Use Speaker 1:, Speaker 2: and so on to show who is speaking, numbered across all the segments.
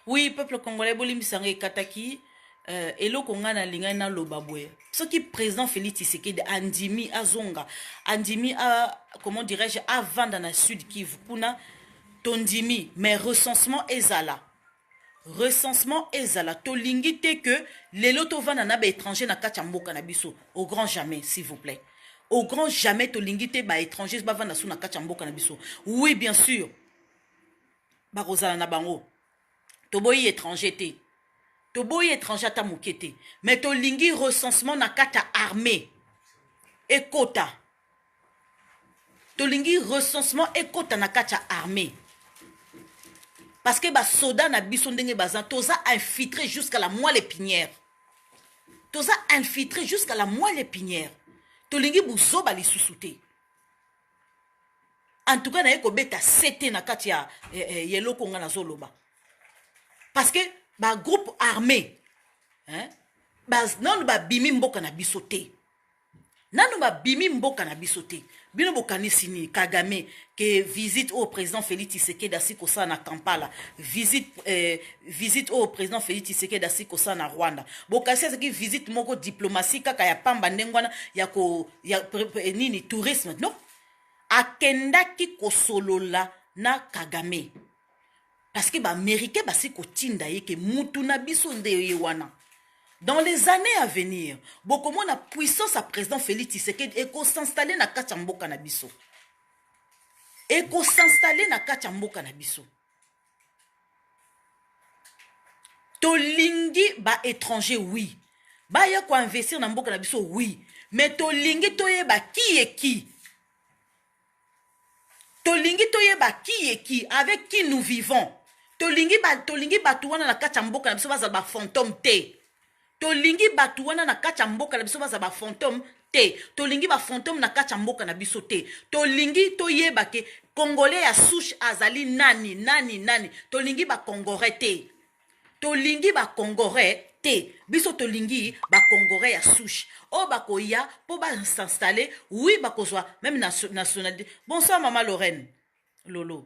Speaker 1: oui peuple congolais bolimbisa ngai ekataki uh, eloko ngai nalingaki naloba boye soki président félix tshisekedi andimi azonga andimi a, comment dirais-je avanda na sud kivu kuna tondimi mais recensement ezala recensement ezala tolingi te que lelo tovanda na baétranger na kati ya mboka na biso au grand jamais s'il vous plaît au grand jamais tolingi te baétranger bavanda so na kati ya mboka na biso oui bien sûr bakozala na bango toboyi étranger te toboyi étranger ata moke te mais tolingi recensement na kati ya armée ekota tolingi recensement ekota na kati ya armée parce que basoda na biso ndenge baza toza infiltré jusqu'à la moelle épinière toza infiltré jusqu'à la moelle épinière tolingi buzoba lisusu te en tout cas naye kobeta sete na kati ya eh, eh, ya eloko ngai nazoloba parce que bagroupe armé hein? bas nanu babimi mboka na biso te nanu babimi mboka na biso te bino bokanisi nini kagame ke visite oyo président félix tisekedi asi kosala na kampala visite, eh, visite oyo président félix tisekedi asi kosala na rwanda bokanisi azalaki visite moko diplomatie kaka ya pamba ndenge wana ya ko ya nini tourisme non akendaki kosolola na kagame parce que baaméricain basi kotinda ye ke mutu na biso nde ye wana dans les années à venir bokomona puissance ya président félix tshisekedi ekosinstalle na kati ya mboka na biso ekosinstalle na kati ya mboka na biso tolingi ba étranger oui baya koinvestir na mboka na biso oui me tolingi toyeba kiyeki tolingi toyeba kiyeki avec qui nous vivons tolingi bato wana na kati ya mboka na biso bazala bafantome te Tolingi batu wana na kati ya mboka na biso baza ba fantome te. Tolingi ba fantome na kati ya mboka na biso te. Tolingi toyeba ke Congolais ya souche azali nani, nani, nani. Tolingi ba Congorais te. Tolingi ba Congorais te. Biso tolingi ba Congorais ya souche. Oyo bakoya po ba s'installer, oui bakozwa meme nationalité. Bonsoir maman Lorraine. Lolo.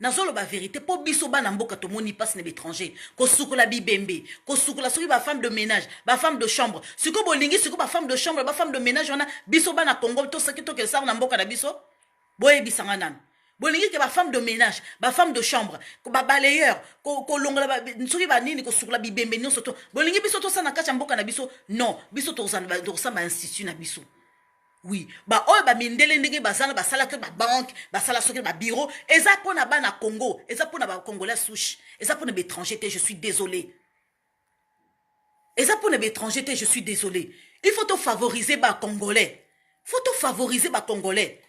Speaker 1: Nazoloba verite po biso bana mboka tomoni pasi na b'etranger kosukola bibembe kosukola soki ba femme de menage ba femme de chambre siko bolingi siko ba femme de chambre ba femme de menage wana biso bana congo tosaki tokesar na mboka na biso boyebisa nga nanu bolingi ke ba femme de menage ba femme de chambre ba balayeur kolongola soki banini kosukola bibembe nyonso to bolingi biso tosala na kati ya mboka na biso non biso tokosamba institut na biso Oui, ba oyo ba mindele ndenge bazala basala que ba banque, basala soki ba bureau, eza pona bana Congo, eza pona ba congolais souche, eza pona ba étranger te, je suis désolé. Eza pona ba étranger te, je suis désolé. Il faut to favoriser ba congolais. Faut to favoriser ba congolais.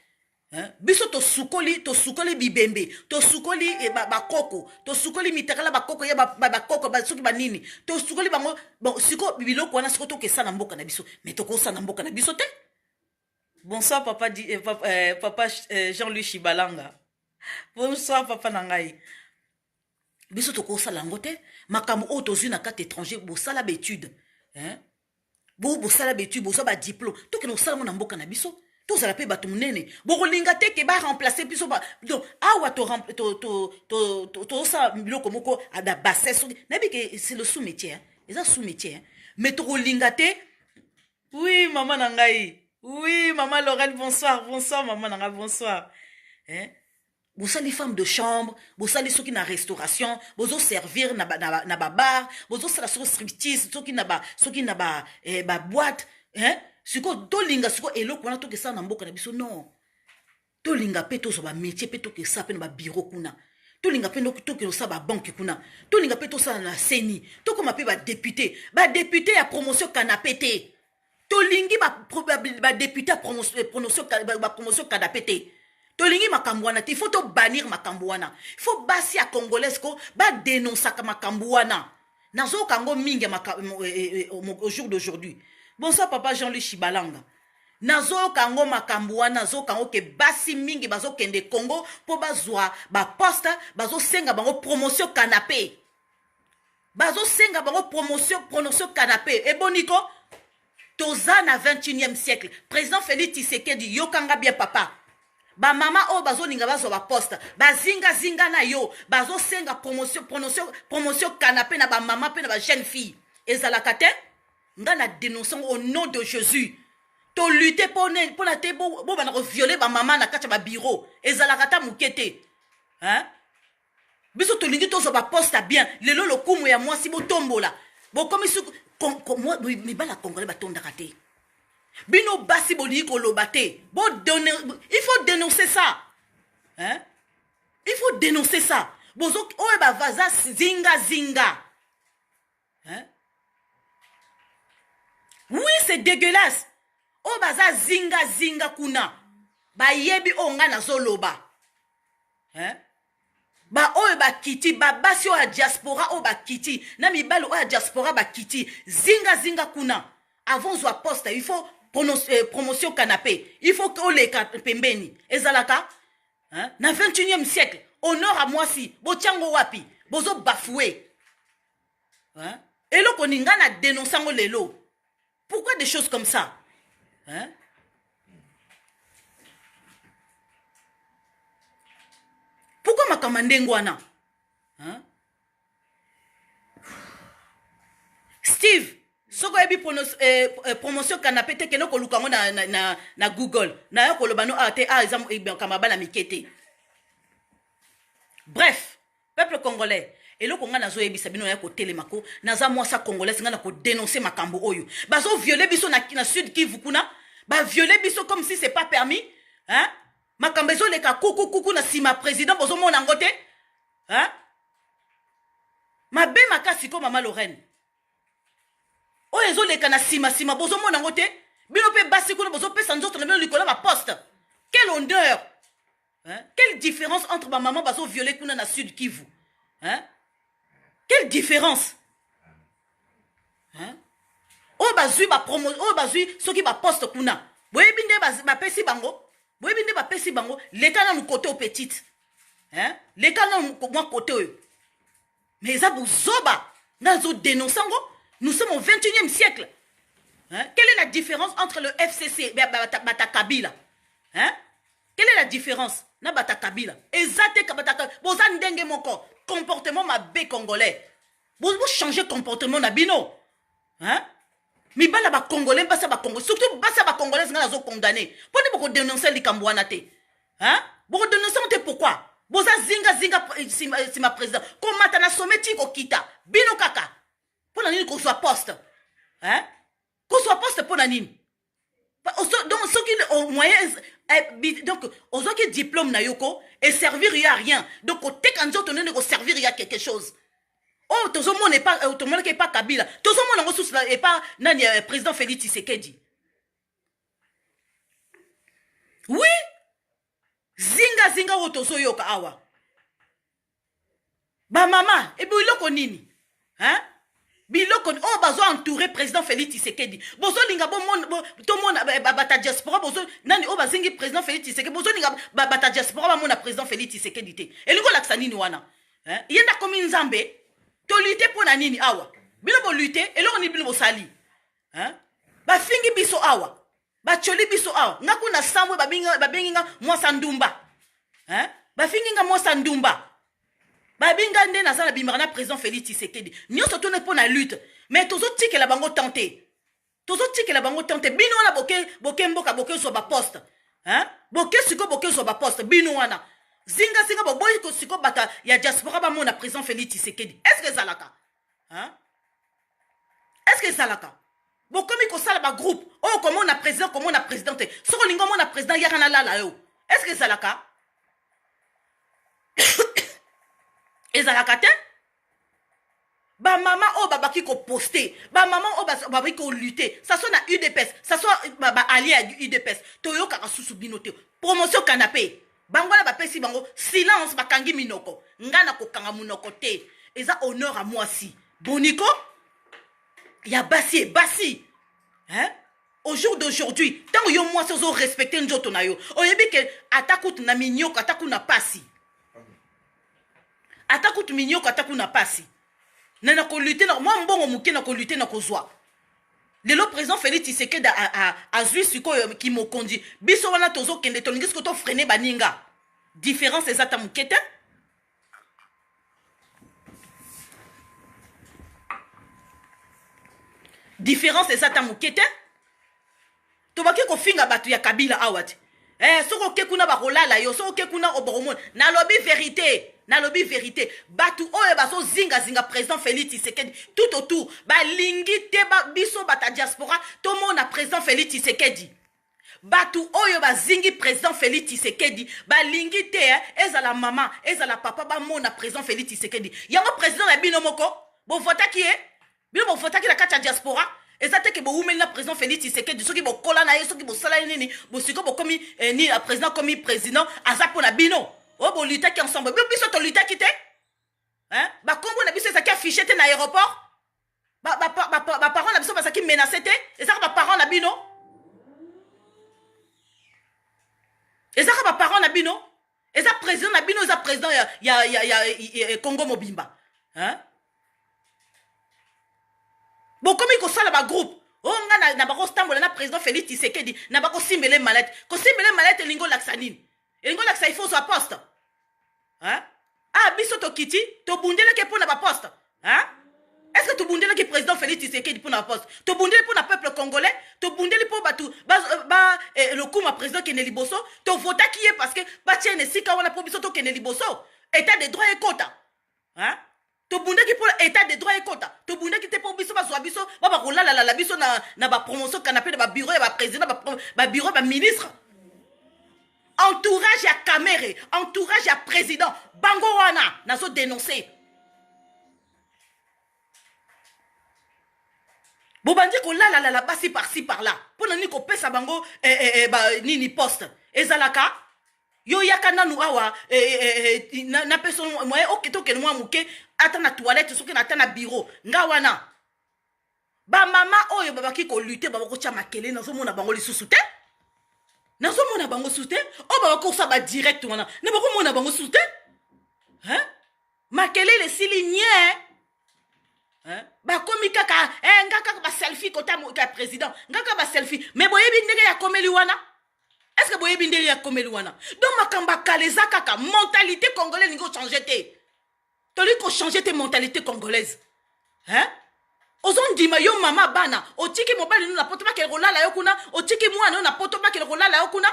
Speaker 1: Hein? biso tosukoli tosukoli bibembe tosukoli eh, bakoko ba tosukoli mitakala bakoko ya bakoko ba, ba, soki banini tosukoli bango bon, siko biloko wana siko tokesa na mboka na biso me tokosa na mboka na biso te bonsoir papa, di, eh, papa, eh, papa eh, jean louis shibalanga bonsoir papa na ngai biso tokosala yango te makambo oyo tozwi na kati étranger bosala baetude hein? bo bosala betui bozwa ba diplome tokende kosala yango na mboka na biso tozala mpe bato monene bokolinga te ke baremplace biso donc awa tosala biloko moko na bassin soki nayebi ke c'est le sous métier eza sous métier mais tokolinga te oui mama na ngai oui mama lorel bonsoir bonsoir mama na ngai bonsoir eh? bosali femme de chambre bosali soki na restauration bozo servir na, ba, na, na babar bozosala soki striptease soki na ba, soki na ba, eh, ba boite eh? sikoyo tolinga sikoyo eloko wana tokesala na mboka na biso non tolinga mpe tozwa bamétier mpe tokesala mpe na babiro kuna tolinga mpe tokende osala babanke kuna tolinga mpe tosala na seni tokoma mpe badepute badepute ya promotion kanape te tolingi badepute ya promotion kadape te tolingi makambo wana te il faut tobanir makambo wana il faut basi ya congolaise ko badenonsaka makambo wana nazoyoka yango mingi au jour d'aujourd'hui bonsoir papa jean louis shibalanga nazoyoka yango makambo wana nazoyoka yango ke basi mingi bazokende congo mpo bazwa baposte bazosenga bango promotion kanape bazosenga bango promotion pronotion canape eboni ko toza na 21e siècle président félix tisekedi yokanga bien papa bamama oyo bazolinga bazwa baposte bazingazinga na yo bazosenga promotion pronotion promotion canape na bamama mpe na bajeune fille ezalaka te ngai na denonce yango au nom de jésus tolute mpo nini mpo na te bobanda koviole bamama na kati ya babiro ezalaka ata moke te biso tolingi tozwa baposte ya bien lelo lokumu ya mwasi botombola bokomi suku mibali ya congolais batondaka te bino basi bolingi koloba te il faut dénoncer ça hein? il faut dénoncer ça bozo oyo bavaza zingazinga hein? oui c'est dégueulasse oyo oh, baza zinga zinga kuna bayebi oyo oh, ngai nazoloba hein? baoyo bakiti babasi oyo ya diaspora oyo bakiti na mibali oyo ya diaspora bakiti zinga zinga kuna avant ozwa poste il faut eh, promotion canapé il faut oleka pembeni ezalaka hein? na 21e siècle honore à mwasi botyango wapi bozo bafoue hein? eloko nini ngai na denonce yango lelo pourquoi des choses comme ça hein? pourquoi makama ndenge wana hein? steve soki oyebi eh, eh, promotion canapé te kende koluka yango na, na, na, na google nayo koloba no awa ah, te awa ah, eza eh, makama bana mike te bref Peuple congolais eloko nga nazo yebisa bino ya kotelema ko naza mwasa congolaise nga na ko denoncer makambo oyo bazo violer biso na, na sud kivu kuna ba violer biso comme si c'est pas permis hein makambo ezoleka kuku kuku na nsima président bozomona yango te hein mabe makasi ko mama lorraine oyo ezoleka na nsima nsima bozomona yango te bino mpe basi kuna bozopesa nzoto na bino likolo ya baposte quel honneur Hein? Quelle différence entre ma maman bazo violer kuna na Sud Kivu? Hein? Quelle différence? Hein? Oh bazui ba promo, oh bazui soki ba poste kuna. Boyebi nde ba pesi bango. Boyebi nde ba pesi bango. Leka na mu côté au petite. Hein? Leka na mu côté oyo. mais eza buzoba nga nazo denonce yango nous sommes au 21e siècle hein? quelle est la différence entre le fcc bata kabila hein? quelle est la différence na bata kabila eza te bata boza ndenge moko comportement mabe congolais bochange comportement na bino hein? mibala bacongolais basa bacongolais surtout basa bacongolais nga nazo condamne mpo nde bokodenonce likambo wana te hein boko denoncer te pourquoi boza zinga zinga eh, sima, eh, sima président komata na sommet ti kokita bino kaka mpo na nini kozwa poste hein kozwa poste mpo na nini donc soki moyen eh, donc ozwaki diplôme na yo ko eservir yo ya rien donc koteka nzoto nene koservir ya quelque chose oyo oh, tozomona euh, tomonaki epa kabila tozomona yango susu epa nani euh, président félix tshisekedi wi zingazinga oyo tozoyoka awa bamama ebe eloko nini hein? biloko oyo oh, bazo entouré président félix tisekedi bozolinga tomona bata diaspora bozo nani oyo oh, bazingi président félix tisekedi bozolinga bata diaspora bamona président félix tisekedi te elingi olakisa nini wana ye nde akomi nzambe tolite mpo na nini awa bino bolite eloko nini bino bosali hein? bafingi biso awa bacoli biso awa nga kuna sambwe babengi nga mwasa ndumba hein? bafingi nga mwasa ndumba babi nga nde naza na bimaka na président félix tisekedi nyonso tone mpo na lutte mais tozotikela bango temps te tozotikela bango temps te bino wana boke, boke mboka bokezwa baposte hein? boke sikoyo bokezwa baposte bino wana zingazinga boboyi sikoyo bata ya diaspora bamona président félix tisekedi est ce que ezalaka hein? est ce que ezalaka bokomi kosala bagroupe oyo komona président komona président te soki olingi omona président yaka nalala yo est ce que ezalaka ezalaka te bamama oyo babaki koposte bamama oyo babaki kolute ça soit na udps ça soit baallie ya udps toyokaka susu bino te promotion canapé bango wana bapesi bango silence bakangi minoko ngai nakokanga monoko te eza honneur ya mwasi boniko ya basi e basi hein? au jour d'aujourd'hui ntango yo mwasi ozo respecte nzoto na yo oyebi ke ata kutu na minyoko ata kuna pasi ata kutu minyoko ata kuna pasi na nakolute na mwa mbongo moke nakolute na kozwa lelo président félix tisekedi azwi sikoyo kimokonzi biso wana tozokende tolingi sikoyo tofrene baninga différence eza ta moke te différence eza ta moke te tobaki kofinga bato ya kabila awa te eh, soki oke kuna bakolala yo soki oke kuna obokomona nalobi verite nalobi verite bato oyo bazozingazinga président félix tisekedi tout autour balingi te ba, biso bata diaspora tomona président félix tisekedi bato oyo bazingi président félix tisekedi balingi te eh, ezala mama ezala papa bamona président félix tisekedi yango président na bino moko bovotaki ye eh? bino bovotaki na kati ya diaspora eza te ke bowumeli na président félix tshisekedi soki bokola na ye soki bosala ye nini bosiko bokomi eh, nini président akomi président aza mpo na bino oyo oh, bolitaki ensemble bino biso tolitaki te bakombo na biso ezalaki affiche te na aéroport baparent na biso bazalaki menace te ezaka baparent na bino ezaka baparent na bino eza president na bino eza president ya, ya, ya, ya, ya, ya congo mobimba hein? bokomi kosala bagroupe o oh, nga na, na bakotambola na président félix tisekedi na bakosimbele malete kosimbele malete elingi olakisa nini elingi olakisa ifo ozwa poste hein? ah biso tokiti tobundeleke mpo na baposte hein? est-ce que tobundelaki président félix tisekedi mpo na poste tobundeli mpo na peuple congolais tobundeli mpo bato euh, ba, eh, lokuma président kende liboso tovotaki ye parce que batyene esika wana mpo biso tokende liboso état de droit ekota hein? tobundaki mpo état de droit ekota tobundaki te mpo biso bazwa biso ba bakolalalala biso na, na bapromotion kanape na babiro ya baprésident babiro ya baministre ba entourage ya kamere entourage ya président bango wana nazo denonce bobandi kolalalala basi parci par là mpo na nini kopesa bango eh, eh, eh, ba, nini poste ezalaka yo yaka nanu awa eh, eh, eh, eh napesa moye oke tokende mwa moke ata na toilette soki na ata na bureau nga wana ba mama oyo babaki ko lutter ba bako tia makele nazo mona bango lisusu te nazo mona bango lisusu te oyo ba bako sa ba direct wana na bako mona bango lisusu te hein makele le sili nie bakomi kaka eh, nga kaka baselfie kota ya président nga kaka baselfie mais boyebi ndenge ya komeli wana est ce que boyebi ndenge ya komeli wana donc makambo ya kala eza kaka mentalité congolais elingi ochange te tolingi kochange te mentalite congolaise hein? ozondima yo mama bana otiki mobali no na poto bakele kolala yo kuna otiki mwana yo na poto bakele kolala yo kuna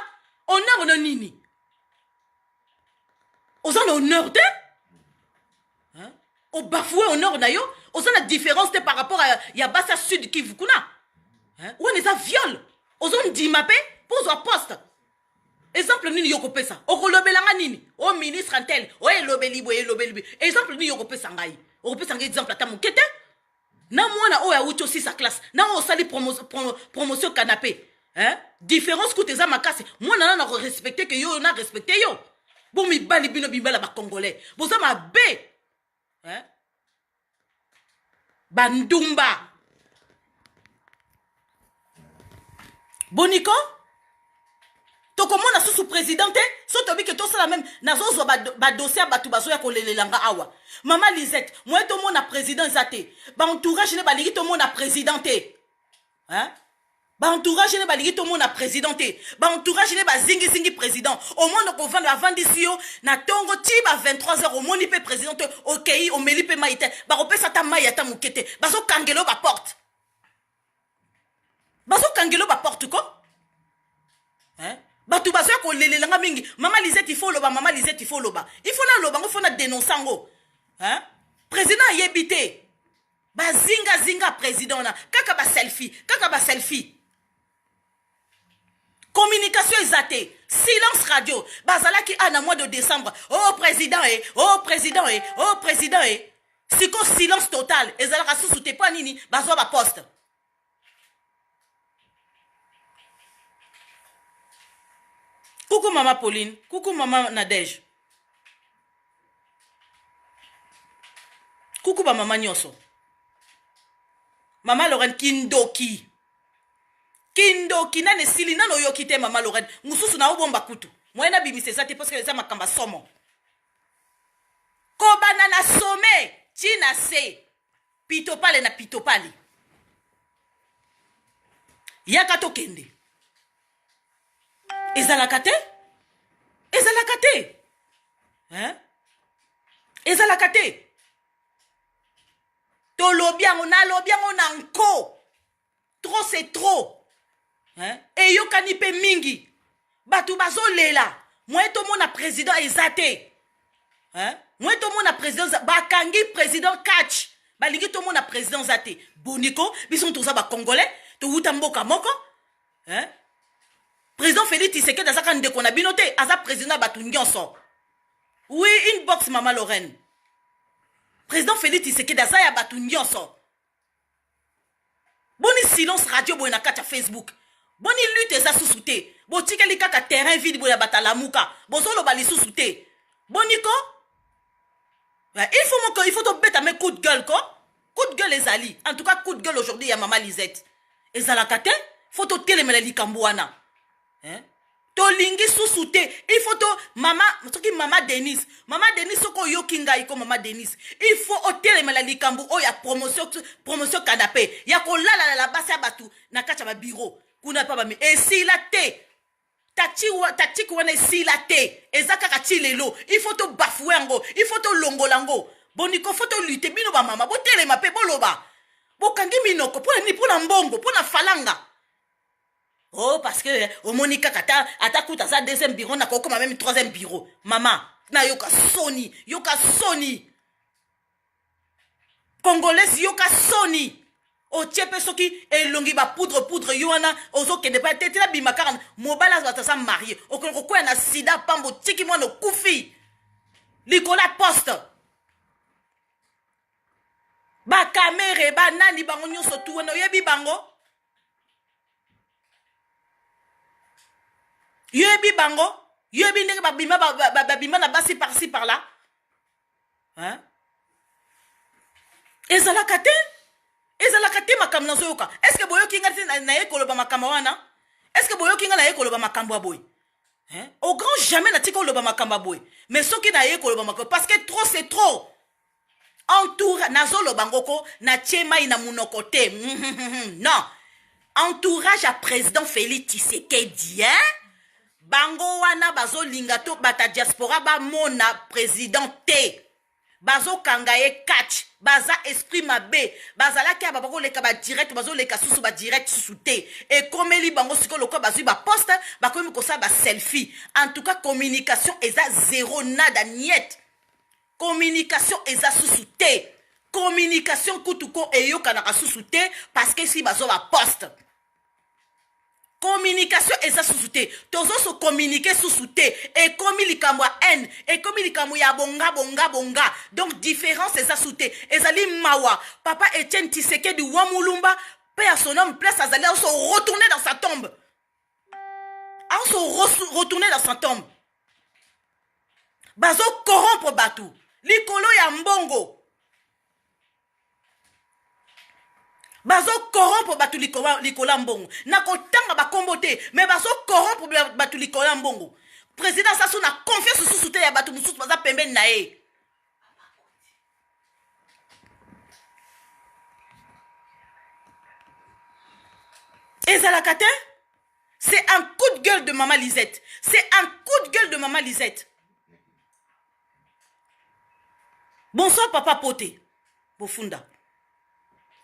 Speaker 1: honore no nini oza na honore te obafoue honore na yo oza na différence te par rapport ya, ya basi ya sud kivu kuna wana eza viole ozondima mpe mpo ozwa poste exemple nini yo kopesa okolobela nga nini o oh, ministre ntel o oh, elobeli boye elobeli boye exemple nini yo kopesa ngai okopesa ngai exemple ata moke te na mwana oyo awuti osisa classe na oyo osali promo, promo, promotion canapé hein? différence kuta eza makasi mwana nana korespecte ke yo na respecte yo bo mibali bino bibala bacongolais boza mabe hein? bandumba boniko tokomona susu président te so toyebi ke tosala meme nazozwa badossier ya bato bazoya kolelela nga awa mama lisette moye tomona président eza te baentourage ne balingi tomona président te hein? baentourage ne balingi tomona président te baentourage ne bazingizingi président omona kovanda avandisi yo na ntongo ti ba 23 heures omoni mpe président te okei omeli mpe mai te bakopesa ata mai ata moke te bazokangelo baporte bazokangelo baporte ko bato bazoya kolelela nga mingi mama lisete ifo oloba mama lisete ifo oloba ifo naloba ngo fo na denonse yango président ayebi te bazinga zinga president wana kaka ba selfie kaka ba selfie communication eza te silence radio bazalaki a na mois de décembre o oh, président e eh, o oh, président e eh, o oh, président e siko silence total ezalaka susu te mpo nini bazwa baposte Coucou maman Pauline, coucou maman Nadège. Coucou ba maman Nyoso. Maman Lorraine Kindoki. Kindoki nane sili nane oyoki te maman Lorraine. Mususu na obomba kutu. Moyen na bimisa eza te parce que eza makamba somo. Kobanda na sommet, tina se. pitopale na pitopale yaka tokende ezalaka te ezalaka te hein? ezalaka te tolobi yango nalobi yango na nko trop c'est trop hein? eyokani mpe mingi bato bazolela moye tomona président eza te hein? moye tomona président bakangi président catch balingi tomona président eza te boniko biso toza bacongolais towuta mboka moko hein? président félix tisekedi azaka ndeko na bino te aza président ya bato nyonso oui une box mama lorraine président félix tisekedi aza ya bato nyonso boni silence radio boye na kati ya facebook boni lutte eza susu te botikeli kaka terrain vide boye ya bato alamuka bozoloba lisusu te boni ko eh, il faut moko il faut tobeta me coup de gueule ko coup de gueule ezali en tout cas coup de gueule aujourd'hui ya mama lisette ezalaka te faut totelemela likambo wana hein? tolingi susu te il faut to mama soki mama denise mama denise soki oyoki ngai ko mama denise il faut otelemela likambo oyo ya promotion promotion kanape ya kolalalala basi ya bato na kati ya babiro kuna mpa bami esila te tactique wana esila te eza kaka ti lelo il faut tobafue yango il faut tolongola yango boniko fo tolute bino bamama botelema mpe boloba bokangi minoko mpo na nini mpo na mbongo mpo na falanga oh parce que eh, omoni kaka ata ata kuta aza deuxième bureau na kokoma meme troisième bureau mama nayoka soni yoka soni congolaise yoka soni otie mpe soki elongi bapoudre poudre yo wana ozokende mpe te tina bima kaka mobali azwata aza marie okoki kokwea na sida pambo otiki mwana okufi likolo ya poste bakamere banani bango nyonso tu wana oyebi bango yo yebi bango yo yebi ndenge babima babima na basi parci par là hein? ezalaka te ezalaka te makambo nazoyoka estce boyoki ngai te naye koloba makambo wana estce boyoki ngai naye koloba makambo ya boye hein? au grand jamais natika oloba makambo ya boye mais soki naye koloba makambo parce que trop c'est trop entoura nazoloba ngo ko natie mai na monoko te non entourage ya président félix tshisekedi hein? bango wana bazolinga to bata diaspora bamona président te bazokanga ye catch baza esprit mabe bazalaki aba bakoleka badirect bazoleka susu badirect susu te ekomeli bango sikoyo lokola bazwi baposte bakomi kosala baselfie en tout cas communication eza zero nada niete Communication eza susu te. Communication kutu ko eyokanaka susu te parce que si bazwa ba poste. Communication eza susu te. Tozo se communiquer susu te. Ekomi likambo ya haine, ekomi likambo ya bonga bonga bonga. Donc difference eza susu te. Ezali mawa. Papa Etienne Tshisekedi wa Mulumba, paix à son homme, place azali azo se retourner dans sa tombe. azo retourne na fantome bazo corrompre bato likolo ya mbongo bazo corrompre bato likolo ya mbongo na kotanga bakombo te me bazo corrompre bato likolo ya mbongo président sasu na confiance mosusu te ya bato mosusu baza pembeni na ye ezalaka te c'est un coup de gueule de mama lisette c'est un coup de gueule de mama lisette bonsoir papa pote bofunda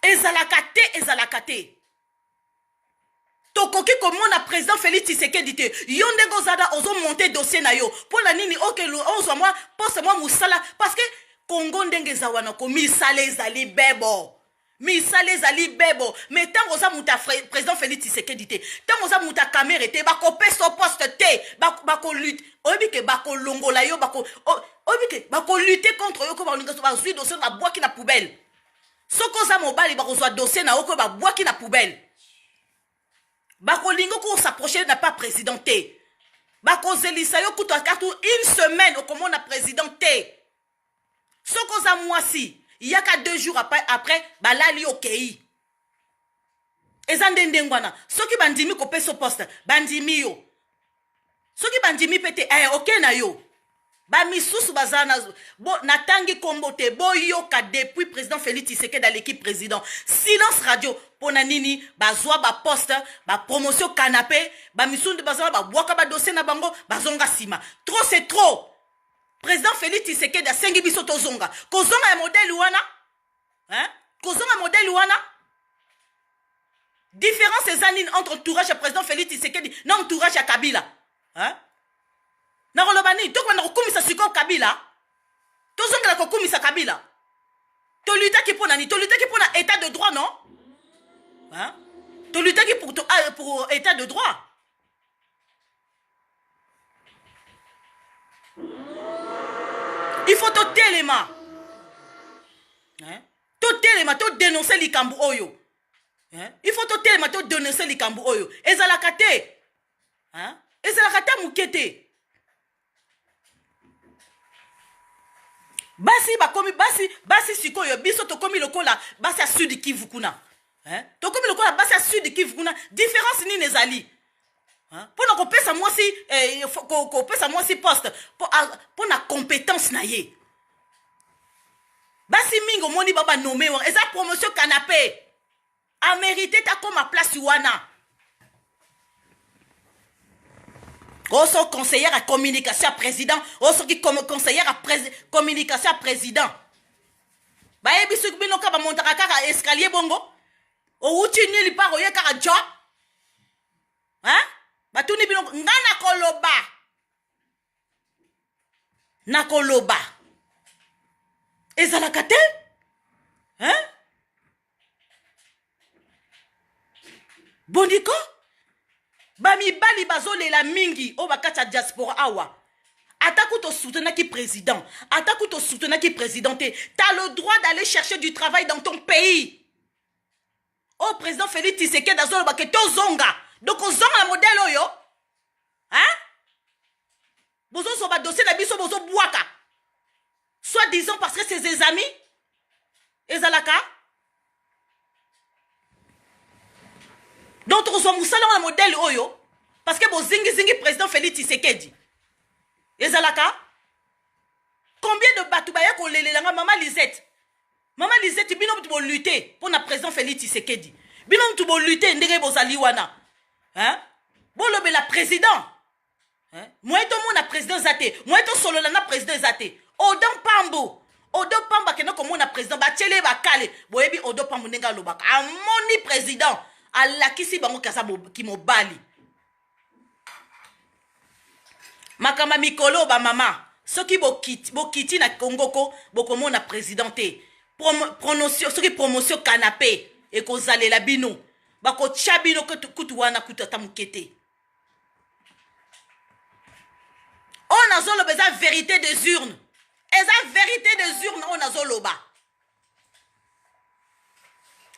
Speaker 1: ezalaka te ezalaka te tokoki komona president félix tshisekedi te yo ndenge ozada ozomonte dossier na yo mpo na nini okelu ozwa mwa poste mwa mosala parce que kongo ndenge eza wana ko misala ezali bebo misala ezali bebo me ntango oza moto ya président félix tshisekedi te ntango oza moto ya kamere te bakopesa poste te bakolute bako oyebi ke bakolongola yo bako oyebi ke bakolute contre yo ko baolinga bazwi dossier babwaki na poubelle soki oza mobali bakozwa dossier na yo okoyo babwaki na poubelle bakolingi ko s'approcher na pas président te bakozelisa yo kutu akatu une semaine okomona président te soki oza mwasi yaka deux jours après, après balali okei eza nde ndenge wana soki bandimi kopesa poste bandimi yo soki bandimi mpe te eh, oke na yo bamisusu baza na bo, natangi nkombo te boyoka depuis président félix tisekedi aleki président silence radio mpo na nini bazwa baposte bapromotion canape bamisusu nde baza na babwaka badosie na bango bazonga nsima trop c'est trop président félix tisekedi asengi biso tozonga kozonga ya modele wana hein? kozonga modele wana différence eza nini entre entourage ya président félix tisekedi na entourage ya kabila hein? nakoloba nini tokobanda kokumisa sikoyo kabila tozongela kokumisa kabila tolutaki mpo na nini tolutaki mpo na état de droit non hein? tolutaki pour, to, ah, pour état de droit il faut totelema hein? totelema todenonse likambo oyo hein? il faut totelema todenonse likambo oyo ezalaka te hein? ezalaka ta moke te basi bakomi basi basi sikoyo biso tokomi lokola basi ya sud kivu kuna hein? tokomi lokola basi ya sud kivu kuna différence nini ezali mpo na kopesa mwasi eh, kopesa mwasi poste mpo na compétence na ye basi mingi omoni ba banome wana eza promotion canapé amerite takoma place wana oso conseillère ya communication ya président osoki conseillère ya communication ya président bayebi soki bino kaka bamontaka kaka escalier bongo owuti nili par oye kaka job hein? batuni bino nga nakoloba nakoloba ezalaka te hein? bondiko bamibali bazolela mingi oyo bakati ya diaspora awa ata kutu osoutenaki président ata kutu osoutenaki président te t'as le droit d'aller chercher du travail dans ton pays oyo oh, président félix tisekedi azoloba ke tozonga donc ozonga na modele oyo hein? bozozwa badossier na biso bozobwaka soit disant parce que c'est ses amis ezalaka donc tokozwa mosala wana modele oyo parce que bozingizingi président félix tisekedi ezalaka combien de bato baye kolelelanga mama lisette Maman Lisette, bino mutu bo lutter pour na président Félix Tshisekedi. Bino mutu bo lutter ndenge bozali wana. Hein? Bolobela président. Hein? Moye to mona président zate. Moye to solola na président zate. Odon Pambo. Odon Pambo akenda komona président batiele bakale. Boyebi Odon Pambo ndenge alobaka. Amoni président. Alakisi bango kaza kimobali. makambo ya mikolo bamama soki bokiti, bokiti na congo ko bokomona président te promotion soki promotion canapé ekozalela bino bakotya bino kutu wana kutu ata moke te oyo nazoloba eza verité des urnes eza verité des urnes oyo nazoloba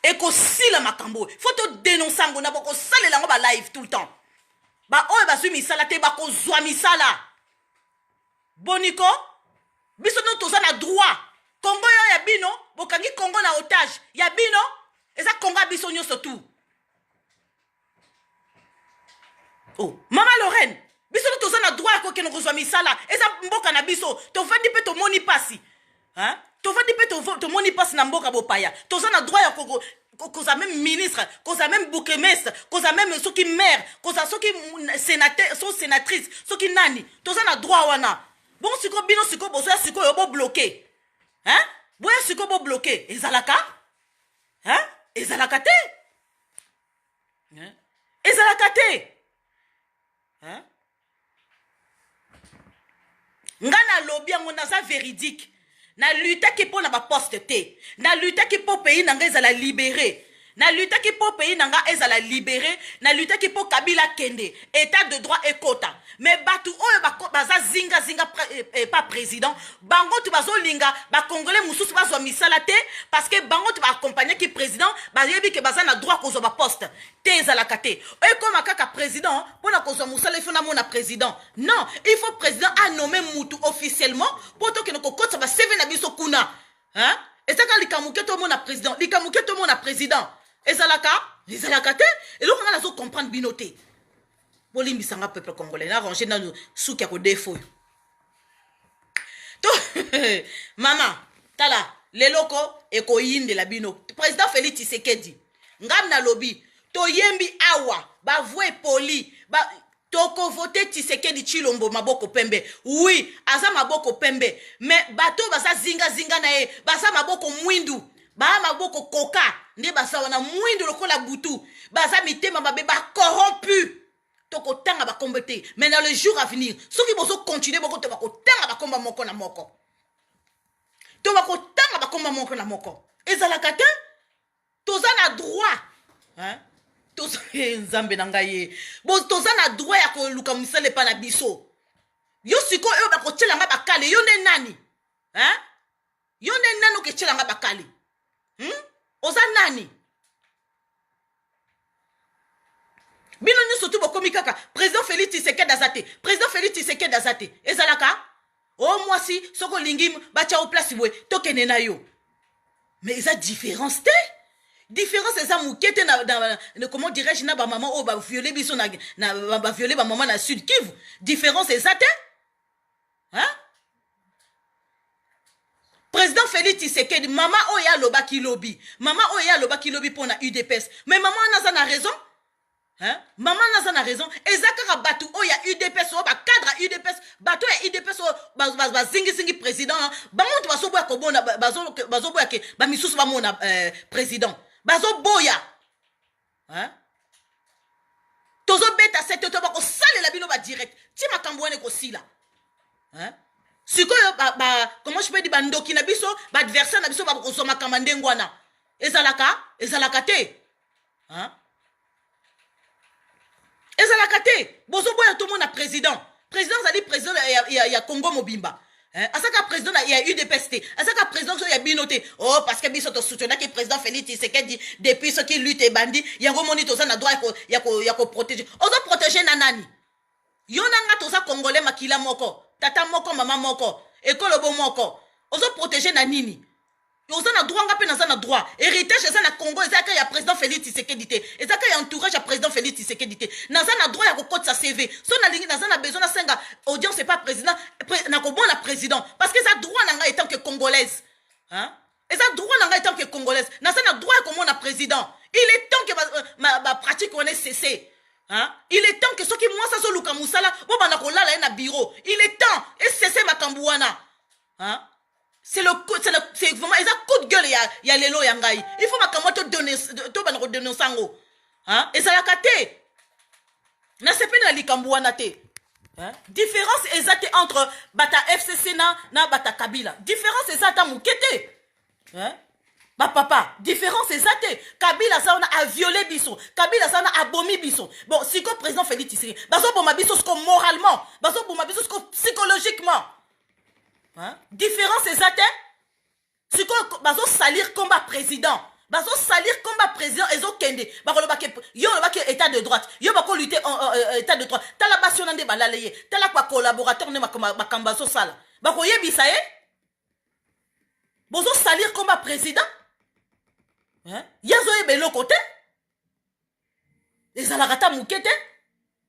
Speaker 1: ekosila makambo oyo fo todenonse yango na bokosalela yango balive tout le temps baoyo bazwi misala te bakozwa misala boniko biso no toza na droit kongo yo ya bino bokangi kongo na otage ya bino eza kongo ya biso nyonso tout oh mama lorraine biso nde toza na droit ya kokende kozwa misala eza mboka na biso tofandi mpe tomoni mpasi tofandi mpe tomoni mpasi na mboka bopaya toza na droit ya koko koza meme ministre koza meme bourgmestre koza meme soki maire koza soki sénateur so sénatrice soki nani toza na droit wana bongo sikoyo bino sikoyo bozoya sikoyo bobloke hein boya sikoyo bobloke ezalaka hein ezalaka te ezalaka te nga nalobi yango naza véridique nalutaki mpo na baposte te nalutaki mpo pays na nga ezala libere nalutaki mpo pays na nga ezala libere nalutaki mpo kabila kende état de droit ekota mais bato oyo baza zingazinga eh, eh, pa président bango tu bazolinga bacongolais mosusu bazwa misala te parce que bango tu baacompagnaki président bayebi ke baza na droit kozwa baposte te ezalaka te ekoma kaka président mpo na kozwa mosala ifo namona président non il faut président anome mutu officiellement mpo tokende kokotisa baseve na biso kuna hein? ezaka likambo ke tomona président likambo ke tomona président ezalaka ezalaka te eloko ngai nazo comprendre bino te bolimbisa nga peuple congolais na ranger nanu suki ya kodefa oyo to mama tala leloko ekoyindela bino président félix tshisekedi ngai nalobi toyembi awa bavue poli ba, tokovote tshisekedi tshilombo maboko pembe wi aza maboko pembe me bato oyo baza zingazinga na ye baza maboko mwindu baa maboko koka nde baza wana mwindo lokola butu baza mitema mabe bacorrompu tokotanga bakombo te mais na le jour avenir soki bozokontinue boko to bakotanga bakomba moko na moko to bakotanga bakomba moko na moko ezalaka te toza na droit hein? toza eh, nzambe na ngai ye toza na droit ya koluka mosala epa na biso yo sikoyo oyo bakotyela ngai bakale yo nde nani hein? yo nde nani oketiela nga bakali hmm? oza nani bino nyonso tu bokomi kaka président félix tisekedi aza te président félix tisekedi aza te ezalaka o oh, mwasi soki olingi batya o place boye tokende na yo mais eza différence te différence eza moke te na, na, na comment dirais-je na bamama oyo baviole biso na, na baviole bamama na sud kivu différence eza te hein? président félix tisekedi mama oyo ye alobaki lobi mama oyo ye alobaki lobi mpo na udps mais mama wana aza na raison hein? mama wana aza na raison eza kaka bato oyo ya udps oyo bacadre ya udps bato oyo ya udps oyo ba- ba- bazingizingi président na bango moto bazoboya kobona ba- bazo- bazoboya ke bamisusu bamona euh, président bazoboya hein? tozobeta sete to bakosalela bino badirect ti makambo wana ekosila hein? sikoyo ba, ba, comment je peux dire bandoki na biso baadversaire na biso bakozwa makamba ndenge wana ezalaka ezalaka te hein? ezalaka te bozoboya tomona président président azali président ya, ya, ya congo mobimba eh, azaka président ya udps te azaka président so ya bino te o oh, parce que biso tosoutenaki président félix tisekedi depuis soki lutte ebandi yango moni toza na droit ya koprotege ozo protege na nani yo na nga toza congolais makila moko tata moko mama moko ekolobo moko ozo protege na nini oza na droit nga mpe naza na droit héritage eza na congo eza yaka ya président félix tisekedi te eza ka ya entourage ya président félix tisekedi te naza na droit ya kokotisa cv so nalingi naza na besoin nasenga audience epa président nakobona président parce que eza droit na ngai etant que congolaise hein? eza droit na ngai etant que congolaise naza na droit ya komona président il est temps que bapratique euh, wana esese Hein? il est temps que soki mwasi azoluka mosala bobanda kolala ye na bureau il est temps esese makambo wana hein? c'est le c'est vraiment eza coup de gueule ya ya lelo ya ngai il faut makambo to to bana ko denoncer ngo hein ezalaka te na sepeli na likambo wana te hein différence eza te entre bata FCC na na bata Kabila différence eza ta moke te hein ba papa différence eza te kabila aza wana aviole biso kabila aza wana abomi biso bon sikoyo président félix tshisekedi bazoboma biso siko moralement bazoboma biso siko psychologiquement différence eza te sikoyo bazosalir combat président bazosalir combat président ezokende bakoloba ke yo olobaki état de droite yo bakolute euh, euh, euh, état de droite tala basi wana nde balala ye tala bacollaborateur nde makambo bazosala bakoyebisa ye bozosalir combat président ye azoyeba eloko te ezalaka ata moke te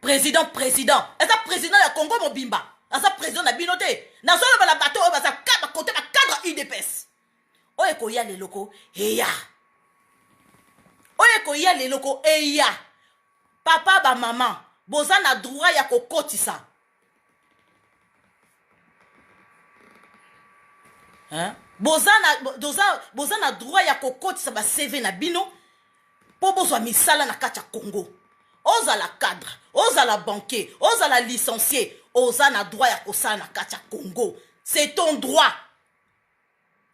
Speaker 1: president president eza president ya congo mobimba aza president na bino te nazoloba na bato oyo baza kaba kote bacadre udps oyo ekoya leloko eya oyo ekoya leloko eya papa bamama boza na droit ya kokotisa hein? boza na, boza, boza na droit ya kokotisa bacv na bino mpo bozwa misala na kati ya congo ozala cadre ozala banquier ozala licencie oza na droit ya kosala na kati ya congo c'est ton droit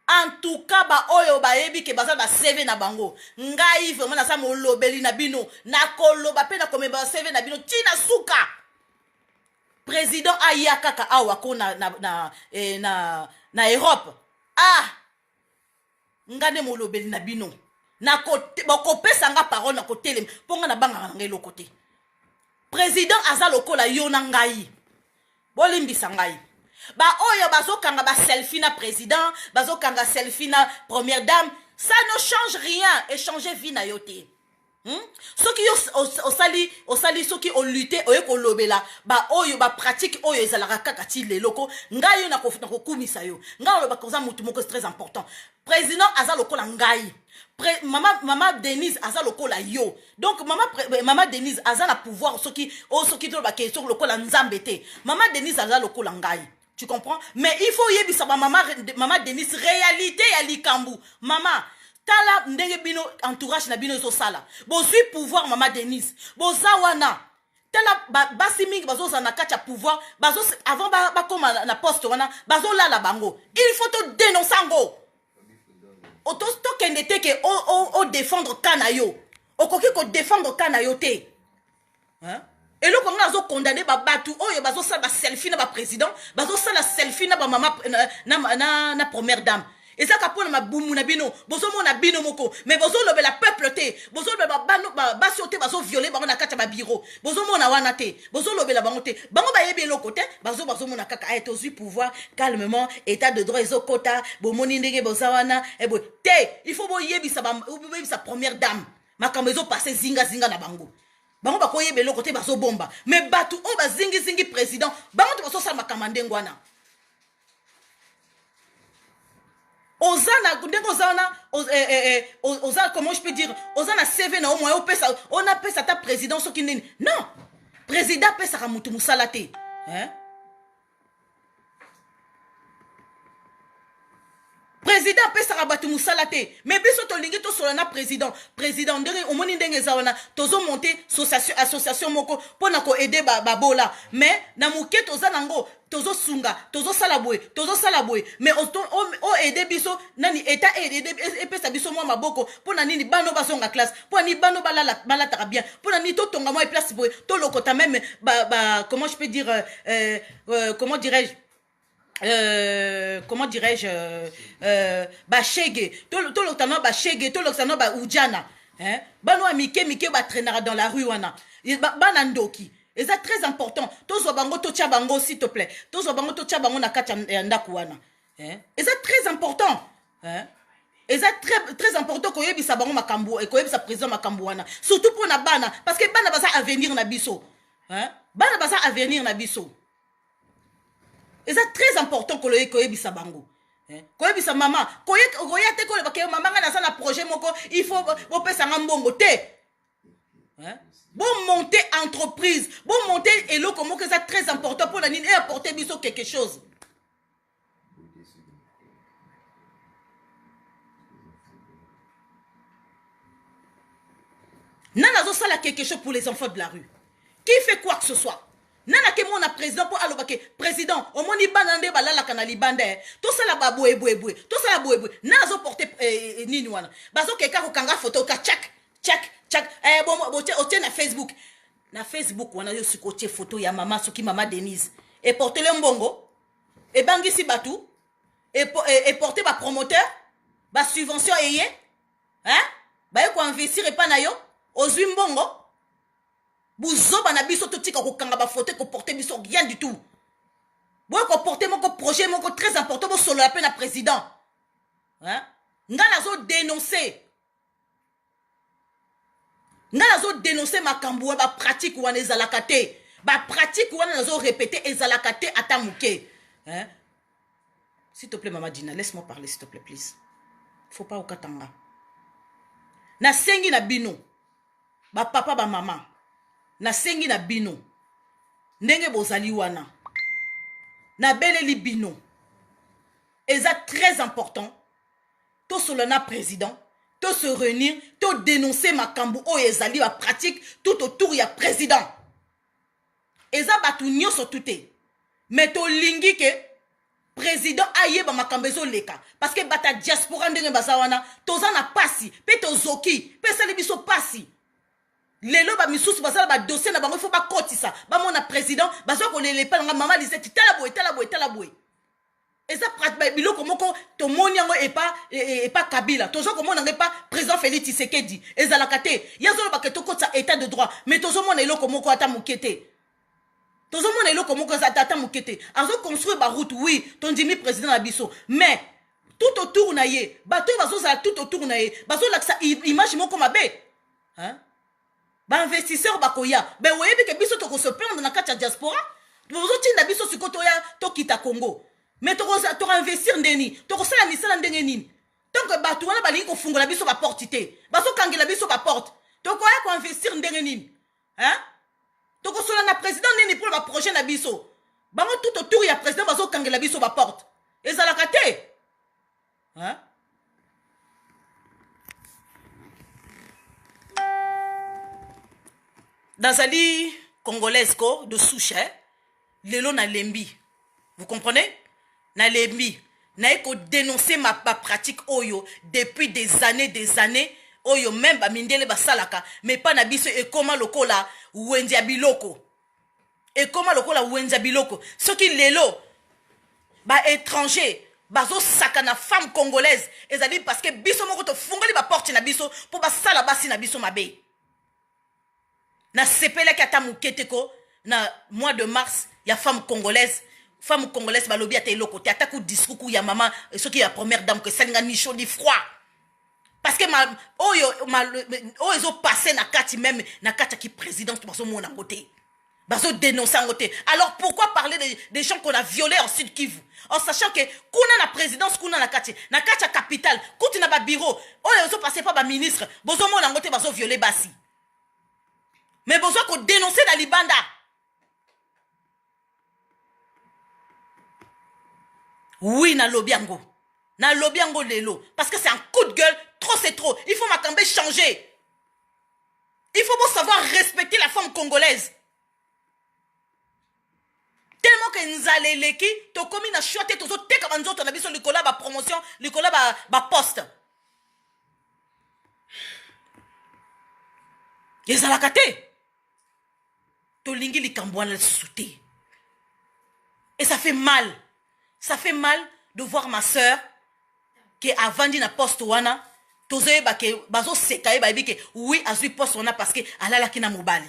Speaker 1: En tout cas ba oyo bayebi ke baza na ba CV na bango, ngai vraiment naza molobeli na bino, nakoloba pe nakomema ba CV na bino ti na suka. President aya kaka awa ko na na na, eh, na, na Europe. Ah! Nga nde molobeli na bino. Nako bokopesa nga parole na kotelema mpo nga nabangaka na ngai eloko te. President aza lokola yo na ngai. Bolimbisa ngai. Ba oyo bazokanga ba selfie na president, bazokanga selfie na première dame, ça ne change rien et changer vie na yo te. Hmm? soki yo osali osali soki olute oye kolobela baoyo bapratique oyo ezalaka kaka ti leloko ngai yo nakokumisa yo ngai olobaka oza motu moko très important president aza lokola ngai Pre, mama, mama denise aza lokola yo donc mama, pre, eh, mama denise aza na pouvoir soki o oh, soki tolobake soki lokola nzambe te mama denise aza lokola ngai tu comprends mais il faut oyebisa bamama mama denise réalité ya likambo mama tala ndenge bino entourage na bino ezosala bozwi pouvoir mama denise boza wana tala basi mingi bazozala na kati ya pouvoir bazo avant bakoma ba na poste wana bazolala bango il faut todénonce yango tokende te ke odefendre ka na yo okoki kodefendre ka na yo te hein? eloko yango nazokondane babato oyo bazosala baselfie na baprésident bazosala selfie na bamama na, na, na, na première dame eza ka pona mabumu na bino bozomona bino moko mais bozolobela peuple te bozolobela basi oyo te bazoviole bango na kati ya babiro bozomona wana te bozolobela bango te bango bayebi eloko te bazo bazomona kaka aye eh, tozwi pouvoir calmement état de droit ezokota bomoni ndenge boza wana eboye eh, te il faut boyebisa boyebisa première dame makambo ezopase zingazinga na bango bango bakoyeba eloko te bazobomba mais bato oyo bazingizingi président bango te bazosala makambo ya ndenge wana oza na ndenge oza wana eh, eh, eh, oza comment je peux dire oza na cv na yo moyen opesa ona pesa ata président soki nini non président apesaka motu mosala te hein? president apesaka bato mosala te me biso tolingi tosola na president president ndenge omoni ndenge eza wana tozomonte association moko mpo na koede babola ba me na moke toza nango tozosunga tozosala boye tozosala boye me oede biso nani eta e, e, e, epesa biso mwa maboko mpo na nini bano bazonga classe mpo na nini bano balataka bien mpo na nini totonga mwa eplace boye tolokota meme ba, ba, comment je peux dire euh, euh, euh comment dirais-je Euh, comment dirais-je euh, euh, bashege tolokisa no bashege tolokisa no baudjana hein? bano ya mike mike batrainaka dans la rue wana bana ndoki eza très important tozwa bango totya bango s'il te plaît tozwa bango totya bango na kati ya ndako wana hein? eza très important hein? eza très, très important koyebisa bango makambo eh, koyebisa président makambo wana surtout mpo na bana parce que bana baza avenir na biso hein? bana baza avenir na biso eza très important koloye koyebisa bango eh, koyebisa mama koya te koloba ke mama ngai naza na projet moko il faut bopesa nga mbongo te eh, bomonte entreprise bomonte eloko moko eza très important mpo na nini eapporte biso quelque chose nani azosala quelque chose pour les enfants de la rue qui fait quoi que ce soit nani akemona président mpo aloba ke président omoni bana nde balalaka na libanda e tosala baboyeboyeboye tosala boyeboye nani azoporte eh, eh, nini wana bazokeka kokanga foto ka chak chak chak eh, otie na facebook na facebook wana yo sikotie foto ya mama soki mama denise eportele mbongo ebangisi bato eporte e bapromoteur basubvention eye baye koinvestir epai na yo ozwi mbongo buzoba na biso totika kokanga bafoto ekoporte biso rien du tout boye koporte moko projet moko très important bosolola mpe na président ngai nazodenonce nga nazo denoncer makambo wa ba pratique wana ezalaka te ba pratique wana nazo répéter ezalaka te ata moke hein? s'il te plaît mama dina laisse moi parler s'il te plaît please faut pas okata nga nasengi na bino bapapa bamama nasengi na bino ndenge bozali wana nabeleli bino eza très important tosolola na president to se réunir to dénoncer makambo oyo ezali ba pratique tout autour ya président eza bato nyonso tu te mais tolingi ke président ayeba makambo ezoleka parce que bata diaspora ndenge baza wana toza na pasi mpe tozoki mpe esali biso pasi lelo bamisusu baza na badossier na bango ifo bakotisa bamona président baza kolela epai na ngai mama liseti tala boye tala boye tala boye eza biloko moko tomoni yango epa e, e, epa kabila toza komona yango epa président félix tisekedi ezalaka te ye azolobaka tokotisa état de droit mais tozomona eloko moko ata moke te tozomona eloko moko eza ata moke te azoconstruire baroute oui tondimi président na biso mais tout autour na ye bato oyo bazozala tout autour na ye bazolakisa image moko mabe hein? ba investisseurs bakoya be oyebi ke biso toko se plaindre na kati ya diaspora bozotinda biso siko toya tokita congo mais tokoinvestir ndeni tokosala misala ndenge nini tant que bato wana balingi kofungola biso baporte te bazokangela biso baporte tokoya koinvestir ndenge nini hein? tokosola na président nini mpo na baprojet na biso bango tout autour ya président bazokangela biso baporte ezalaka te hein? nazali congolaise ko de souche eh? lelo nalembi vous comprenez nalembi naye kodenonce ma bapratique oyo depuis des années des années oyo meme bamindele basalaka mais mpa na biso ekoma lokola wenze ya biloko ekoma lokola wenza biloko soki lelo ba étranger bazosaka na femme congolaise ezali parce que biso moko tofungoli baporte na biso mpo basala basi na biso mabe nasepelaki ata moke te ko na mois de mars ya femme congolaise femme congolaise balobi ata eloko te ata ku discours ya mama soki ya première dame ko esali nga ni chaud ni froid parce que ma oyo ma oyo ezo passer na kati même na kati ya ki présidence bazo mona ngo te bazo dénoncer ngo te alors pourquoi parler des de gens qu'on a violé en sud kivu en sachant que kuna na présidence kuna na kati na kati ya capitale kutu na ba bureau oyo ezo passer pa ba ministre bozo mona ngo te bazo viole basi mais bozo ko dénoncer na libanda oui nalobi yango nalobi yango lelo parce que c'est un coup de gueule trop c'est trop il faut makambo changer il faut bosavoir respecter la femme congolaise tellement ke nzala eleki tokomi na shwa te tozoteka banzoto na biso likolo ya bapromotion likolo ya baposte ba ezalaka te tolingi likambo wana lisusu te et ça fait mal ça fait mal de voir ma sœur ke avandi na poste wana tozoyeba ke bazoseka ye bayebi ke oui azwi poste wana parce que alalaki na mobali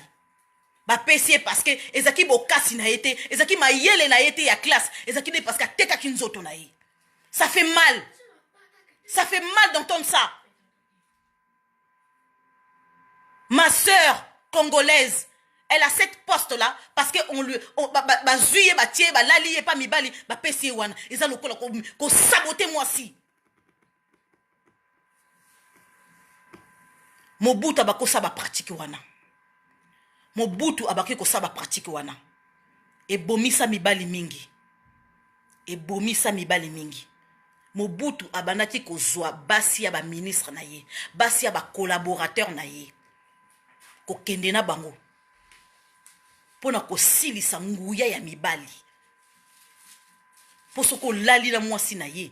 Speaker 1: bapesi ye parce que ezalaki bokasi na ye te ezalaki mayele na ye te ya classe ezalaki nde parce que atekaki nzoto na ye ça fait mal ça fait mal d'entendre ça Ma sœur congolaise, elle a cette poste là parce que on lui on, ba, ba, ba zuye ba tie ba lali ye pa mibali ba pesi ye wana eza lokola ko, ko saboter moi si mobutu abaki kosala bapratike wana mobutu abaki kosala bapratike wana ebomisa mibali mingi ebomisa mibali mingi mobutu abandaki kozwa basi ya baministre na ye basi ya bacollaborateur na ye kokende na bango mpo na kosilisa nguya ya mibali mpo soki olali na mwasi na ye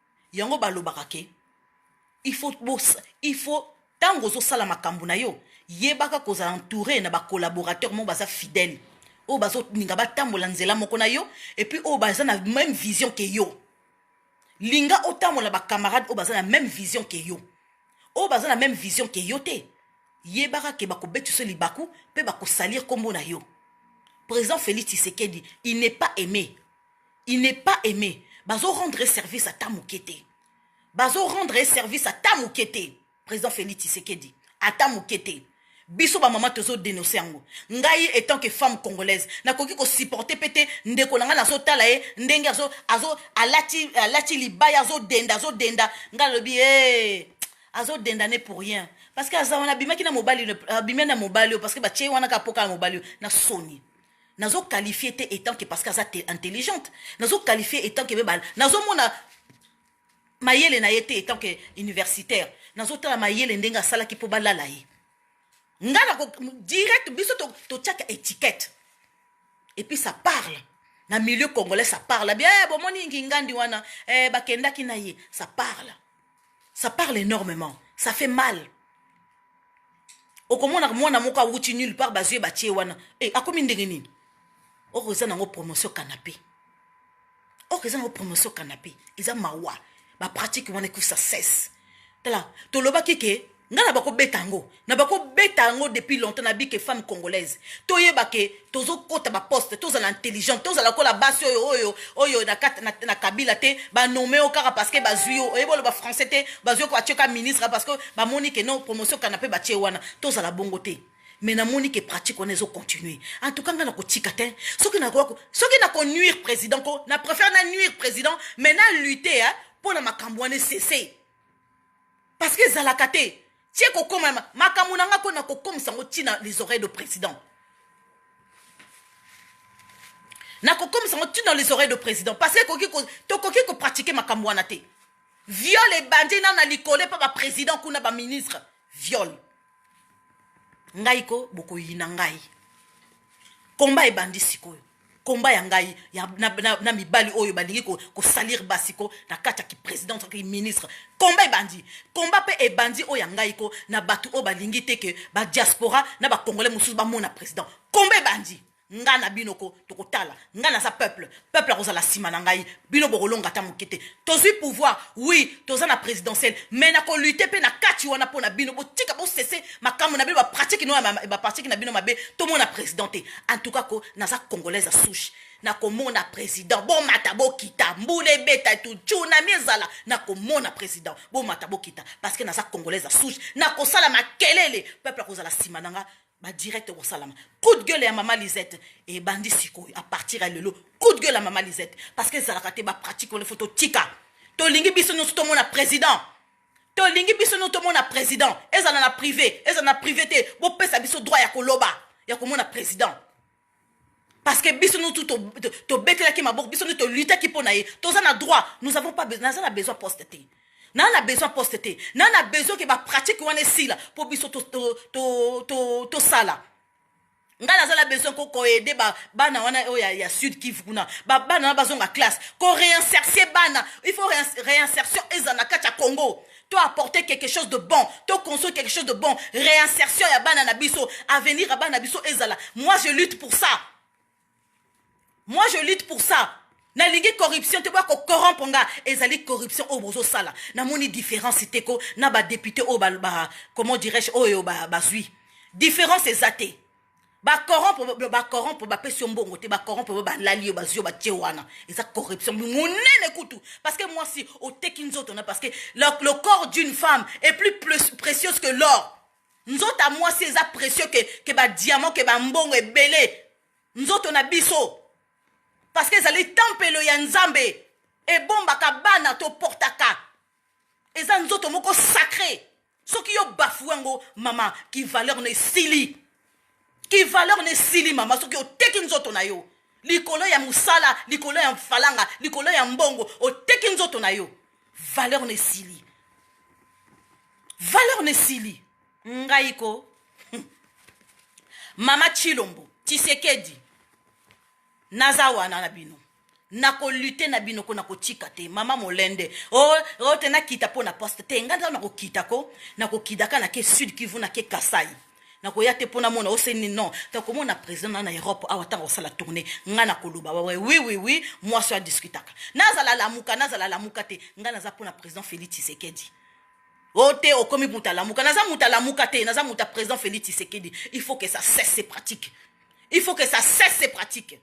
Speaker 1: yango balobaka ke il faut bos il faut ntango ozosala makambo na yo yebaka kozala entouré na bacollaborateur moko baza fidèle oyo bazolinga batambola nzela moko na yo epuis oyo baza na même vision ke yo linga otambola bacamarade oyo baza na même vision ke yo oyo baza na même vision ke yo te yebaka ke bakobetiso libaku mpe bakosalir nkombo na yo président félix tshisekedi il n'est pas aimé il n'est pas aimé bazo rendre ye service ata moke te bazo rendre ye service ata moke te président félix tshisekedi ata moke te biso bamama tozo denonse yango ngai etant que femme congolaise nakoki kosupporte mpe te ndeko na ngai nazotala ye ndenge azo, azo, alati, alati libaya azodenda azodenda ngai alobi hey, azodenda ne pour rien parce que aza wana abimaki na mobali abimi na mobali oyo parce que batye wana kaka mpo kaka mobali oyo na soni nazo qualifie te etant que parce que aza intelligente nazo qualifie etant que meme nazomona mayele na ye te etant que universitaire nazotala mayele ndenge asalaki mpo balala ye ngai nako direct biso totyaka to étiquette et puis ça parle na milieu congolais ça parle bien eh, bomoni ngingandi wana eh, bakendaki na ye ça parle ça parle énormément ça fait mal okomona mwana moko awuti nulle part bazwi ye batie wana e eh, akomi ndenge nini oko eza nango promotion canapé oko eza nango promotion canapé eza mawa bapratique wana ekusa cesse tala tolobaki ke nga na bako beta yango na bako beta yango depuis longtemps na bike femme congolaise toyeba ke tozokota baposte tozala intelligente tozala kola basi oyo oyo oyo na, na, na kabila te banome yo kaka parce que bazwi yo oyebi oloba français te bazwi ko batye ka ministre parce que bamoni ke non promotion kana mpe batye wana tozala bongo te mais namoni ke pratique wana ezocontinue en tout cas ngai nakotika te soki nakoki soki nakonuire président ko na préfère na nuire président mais na lutte mpo na makambo wana esese parce que ezalaka te tie kokoma makambo na nga ko nakokomisa yango ntina les oreilles de président nakokomisa yango ntina les oreilles de président parce que tokoki kopratike makambo wana te viol ebandi na na likolo epa baprésident kuna baministre viol ngai ko bokoyina ngai komba ebandi sikoyo komba ya ngai ya, na, na, na mibali oyo balingi kosalire ko basi ko na kati ya kipresidence ki ministre komba ebandi komba mpe ebandi oyo ya ngai ko na bato oyo balingi te ke badiaspora na bacongolais mosusu bamona président komba ebandi nga na bino ko tokotala nga naza peuple peuple akozala nsima na ngai bino bokolonga ata moke te tozwi pouvoir oui toza na présidentielle mais nakolute mpe na kati wana mpo na bino botika bosese makambo na bino bapratike no bapratike na bino mabe tomona président te en tout cas ko naza congolaise ya souche nakomona président bomata bokita mbula ebeta etu tsunami ezala nakomona président bomata bokita parce que naza congolaise ya souche nakosala makelele peuple akozala nsima na nga ba direct ekosalama coup de gueule ya mama lisette ebandi sikoyo a partir ya lelo coup de gueule ya mama lisette parce que ezalaka te bapratique wana fo totika tolingi biso nyonso tomona président tolingi biso nyonso tomona président ezala na privé ezala na privé te bopesa biso droit ya koloba ya komona président parce que biso nous tout tobetelaki maboko biso nous tolutaki mpo na ye toza na droit nous avons pas besoin naza na besoin poste te naa na besoin poste te naa na besoin ke bapratique wana esila mpo biso tosala ngai naza na besoin ko koaide bana wana oyo ya, ya sud kivu kuna bana wana bazonga classe ko réinsertie bana il faut réinsertion ezala na kati ya congo to apporter quelque chose de bon to construire quelque chose de bon réinsertion ya bana na biso avenir ya bana na biso ezala moi je lutte pour ça moi je lutte pour ça nalingi corruption te boya kocorrompre nga ezali corruption oyo bozosala namoni différence te ko na badepute oyo ba, ba, comment dirais-je oyo bazwi ba, ba différence eza te bacorrompre bacorrompre bapesi yo mbongo te bacorrompre ba balali yo bazwi yo batie wana eza corruption monene kutu parce que mwasi oteki nzoto na parce que le, le corps d'une femme est plus, plus précieuse que l'or nzoto ya mwasi eza précieux ke, ke badiamant ke bambongo ebele nzoto na biso parce que ezali tempelo ya nzambe ebombaka bana toportaka eza nzoto moko sacré soki yo bafoue yango mama ki valeur na esili ki valeur na esili mama soki oteki nzoto na yo likolo ya mosala likolo ya mfalanga likolo ya mbongo oteki nzoto na yo valeur na esili valeur na esili ngai ko mama chilombo tisekedi naza wana na bino nako lutte na bino ko nako tika te mama molende o oh, o oh, te nakita mpo na poste te ngai nzao nakokita ko nakokidaka nake sud kivu nake kasai nakoya te mpo namona oseni non takomona président na na europe awa ntango kosala tourne ngai nakoloba wawe wi wi wi mwasi oyo adiskutaka nazala lamuka nazala lamuka te ngai naza mpo na président félix tshisekedi o oh, te okomi muta lamuka naza muta lamuka te naza muta président félix tshisekedi il faut que ça cesse ces pratiques il faut que ça cesse ces pratiques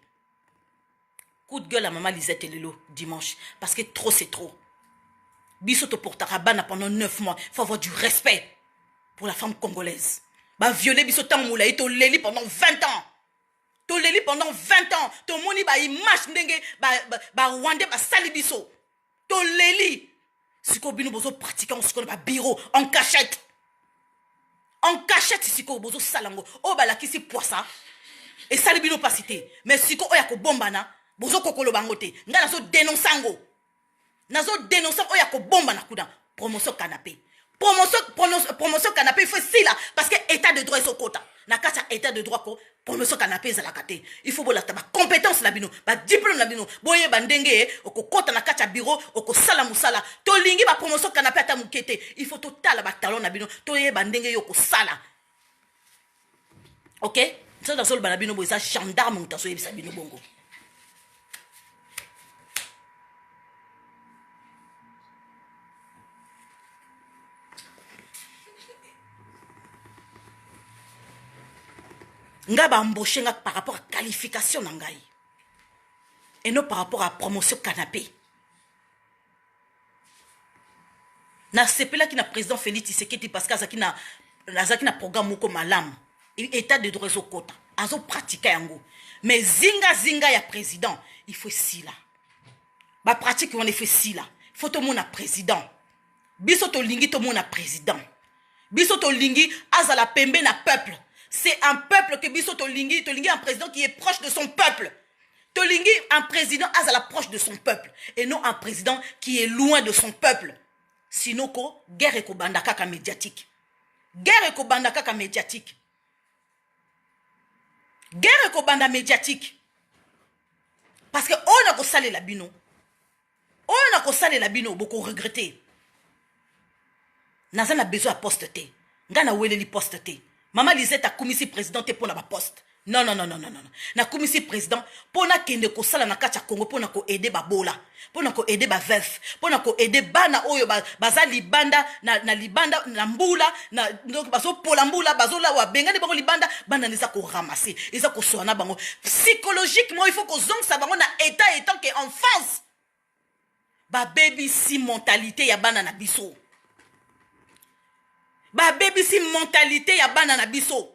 Speaker 1: coup de gueule ya mama lisette lelo dimanche parce que trop c'est trop biso toportaka bana pendant 9 mois faut avoir du respect pour la femme congolaise baviole biso ntango molai toleli pendant 20 ans toleli pendant 20 ans tomoni baimage ndenge barwandais ba, ba basali biso toleli sikoyo bino bozo pratique yango sikoyo na babiro en cachette en cachette sikoyo bozosala yango oyo balakisi pwasa esali bino mpasi te mais sikoyo oyo ya kobombana bozokokoloba yango te ngai nazodenonse yango nazodenonse oyo ya kobombana kuna promotion canape promotion promotion promotion canapé il faut esila parce que état de droit ezokota na kati ya état de droit ko promotion canapé ezalaka te il faut bolakta bacompétence na bino badiplome na bino boyeba ndenge okokɔta na kati ya biro okosala mosala tolingi bapromotion canapé ata moke te il faut totala batalon na bino toyeba ndenge yo okosala ok soki nazoloba na bino boye eza gendarme moto azoyebisa bino bongo ngai baembauche nga par rapport à qualification na ngai et non par rapport à promotion canapé Na sepelaki na president Felix Tshisekedi parce que azaki na azaki na programme moko malamu etat de droit ezokota azo pratika yango mais zinga zinga ya président il faut esila bapratike wana ifo esila fo tomona président biso tolingi tomona président biso tolingi azala pembe na peuple c'est un peuple que biso tolingi tolingi un président qui est proche de son peuple tolingi un président azala proche de son peuple et non un président qui est loin de son peuple sinon ko guerre ekobanda kaka médiatique guerre ekobanda kaka médiatique guerre ekobanda médiatique parce que oyo nakosalela bino oyo nakosalela bino bokoregrete naza na besoin ya poste te ngai naweleli poste te mama lisette akumisi président te mpo na baposte non non non non non nakumisi président mpo nakende kosala na kati ya congo mpo na koaide babola mpo na koaide baveuve mpo na koaide bana oyo baza libanda na libanda na mbula na donc bazopola mbula bazolawa bengani bango libanda banda nde eza koramase eza kosola na bango psychologiquement il faut kozongisa bango na état etant que en face babebisi mentalité ya bana na biso babebisi mentalité ya bana na biso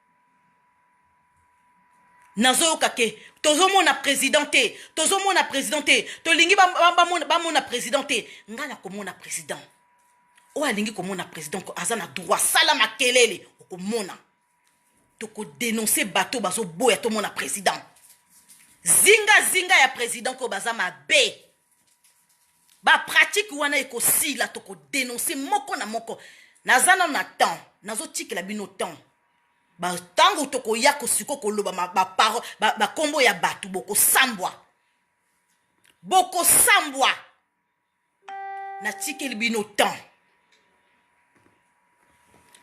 Speaker 1: nazoyoka ke tozomona président te tozomona président te tolingi bamona président te ngai nakomona président oyo alingi komona président aza na droit sala makelele okomona tokodenonse bato bazoboya tomona président zinga zinga ya président oyo baza mabe bapratike wana ekosila tokodenonse moko na moko naza nano na temps nazotikela bino temps ntango tokoya kosiko koloba bakombo ba, ba, ba ya bato bokosambwa bokosambwa natikeli bino temps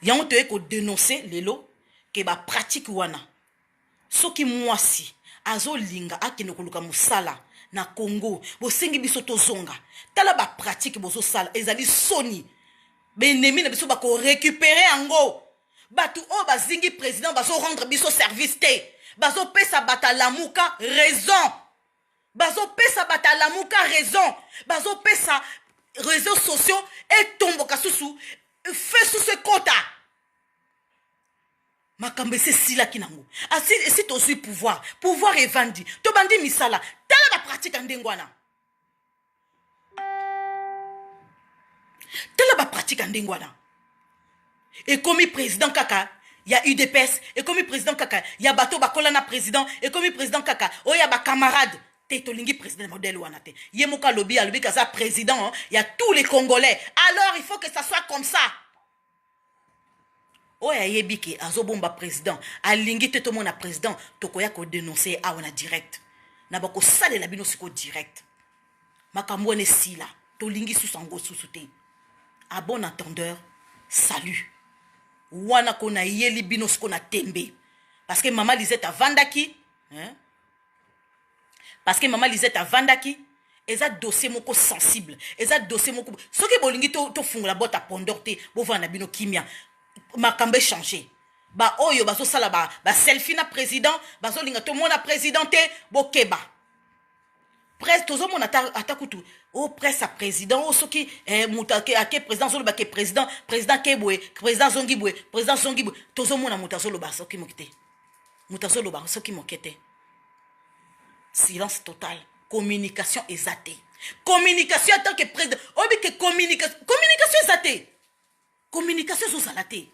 Speaker 1: yango toyei kodenonse lelo ke bapratike wana Soki muasi azo linga akende koluka musala na congo bosengi biso tozonga tala ba pratique bozo sala ezali soni ba enemi na biso bako recuperer yango batu oyo bazingi president bazo rendre biso service te bazo pesa bata lamuka raison bazo pesa bata lamuka raison bazo pesa reseaux sociaux etomboka susu fesusu ekota makambo esi esilaki nango asi esi tozwi pouvoir pouvoir evandi tobandi misala tala bapratike ya ndenge wana tala bapratike ya ndenge wana ekomi président kaka ya udps ekomi président kaka ya bato bakola na président ekomi président kaka oyo ya bacamarade te tolingi président modèle wana te ye moko alobi alobi kaza président ya tous les congolais alors il faut que ça soit comme ça oyo ayebi ke azobomba president alingi te tomona president tokoya kodenonce ye awa na direct na bakosalela bino sikoyo direct makambo wana esila tolingi susu yango susu te a bon entendeur salut wana ko nayeli bino siko na tembe parce que mama lisette avandaki hein? parce que maman Lisette avandaki eza dossier moko sensible eza dossier moko soki bolingi tofungola to bota pondor te bovanda na bino kimia makambo echange baoyo bazosala baselfi ba na président bazolinga tomona président te bokeba presse tozomona ata, ata kutu o oh, presse ya président o oh, soki eh, moto ake, ake président azoloba ke président président ke boye président azongi boye président azongi boye tozomona moto azoloba soki moki te moto azoloba soki moke te silence total communication eza te communication en tant que président oyebi ke communication communication eza te communication ezozala te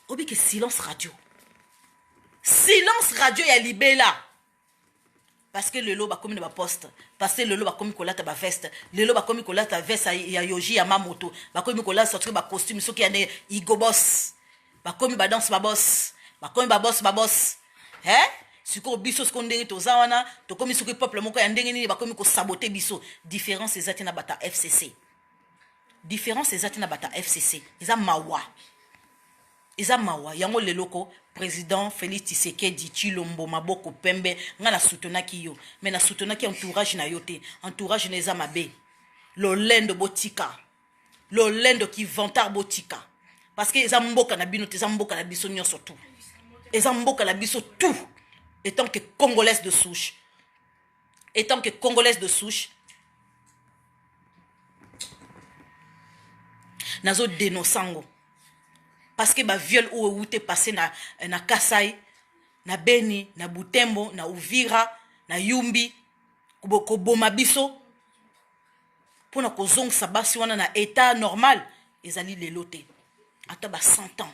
Speaker 1: oyebi ke silence radio silence radio ya libela parce que lelo bakomi na baposte parce que lelo bakomi kolata baveste lelo bakomi kolata veste ya yoji ya mamoto bakomi kolata soki bacostume soki ya ne igobos bakomi badanse babos bakomi babos babos e eh? sikoyo biso sikoyo ndenge toza wana tokomi soki peuple moko ya ndenge nini bakomi kosabote biso différence eza te na bata fcc différence eza te na bata fcc eza mawa Eza mawa yango lelo ko president Felix Tshisekedi Tshilombo maboko pembe nga na soutenaki yo mais na soutenaki entourage na yo te entourage na eza mabe lolendo botika lolendo ki vantard botika parce que eza mboka na bino te eza mboka na biso nyonso tout eza mboka na biso tout etant que congolaise de souche etant que congolaise de souche nazo denonce yango parce que baviole oyo ewute passe na, na kasai na beni na butembo na uvira na yumbi koboma biso mpo na kozongisa basi wana na etat normal ezali lelo te ata ba 100 ans